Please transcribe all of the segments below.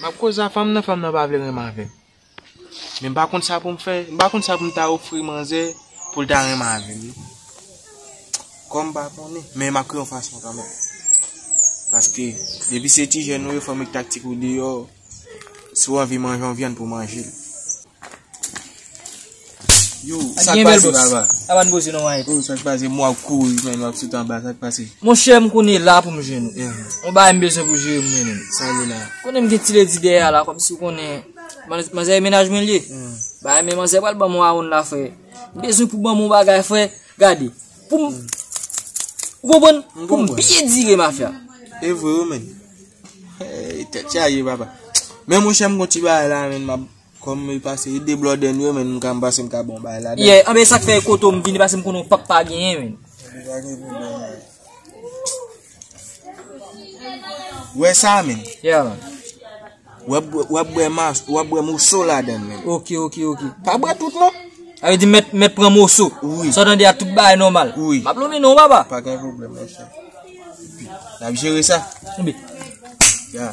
M ap koze a fanm nan, fanm nan pa vle renmen avè m. Men m pa konn sa pou m fè, m pa konn sa pou m ta ofri manzè pou l ta renmen avè m. Kòm m pa konnen, men m ap kriye yon fason kanmèm. Paske, depi se ti jèn ou ye, fò m ektaktik ou deyò, si w anvi manje yon vyann pou w manje l. Yo, sak pase baba? A ban boze nan wanyet. Yo, sak pase mwa kou yi men wap sotan ba, sak pase? Mon chè m konen la pou m jè nou. Yon eh. ba yon bezon pou jè mwen men. Sa yon la. Konen m gen ti ledi dè ya la, kom si konen. Man zè yon menaj mwen li. Yon. Hmm. Ba yon men man zè wal ban mwen a yon la fwe. Bezon pou ban mwen bagay fwe. Gade. Pou m. Ou bon bon? M bon bon. Pou m biye dire ma fwe. E vwe ou men. Hey, te tja ye baba. Men mon chè m konti ba yon la men mab. Kom e pase e de blòdè nou yo men m ka m pase m ka bon bay la dan. Yeah anben sak fè e koto m vini pase m konnen w pap pa genyen men. Ou pa gen pou blan la. Wè sa men. Yeah man. Wap bwè mas, wap bwè moso la dan men. Ok ok ok. Pa bwè tout non. A ve di met met pran moso. Ou. Sa dan di a tout bay normal. Ou. Map lome non baba. Pa gen pou blan monche. Nap jere sa. Ou be. Yeah.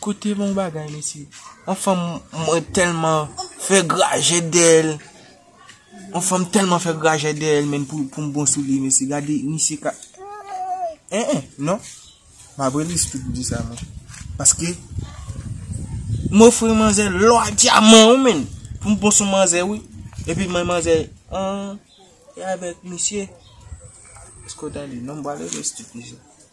Kote bon bagay mesye. Yon fanm mwen telman fè grajè dèl. Yon fanm telman fè grajè dèl men pou m bon sou li mesye. Gade misye ka. E e non. M ap rele sou tout di sa mwen. Paske. M ofri manzè lò a diaman ou men. Pou m bon sou manzè ou. E pi mwen manzè. An. E avek misye. Eske w tande. Non m wale rele sou tout di sa.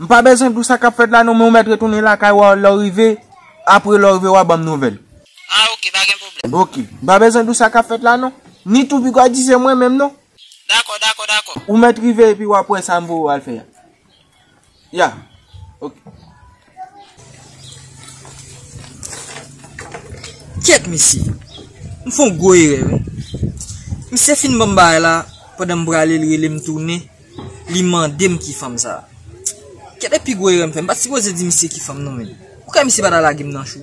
M pa bezwen di w sa k ap fèt la non men ou mèt retounen lakay w lè w rive Apre lè w rive w a ban m nouvèl Ah ok pa gen pwoblèm Ok M pa bezwen di w sa k ap fèt la non Ni tou pi gwa di se mwen menm non Dakò dakò dakò Ou mèt rive epi w ap wè sa m voye w al fè a Ya Ok. Kyèt mesye, m fè yon gwo erè wi. Misye fin ban m bagay la, pandan m prale li rele m tounen, li mande m ki fanm sa. Kyèt e pi gwo erè m fè, m pat sipoze di misye ki fanm non men. Poukisa misye pa ta lage m nan chou?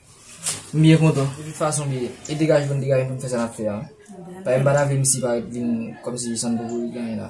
M byen kontan. De tout fason li e degaje pou n degaje pou n fè sa n ap fè a. Paske m pa ta vle misye pa ret vin kòmsi san n poko ret gen anyen la.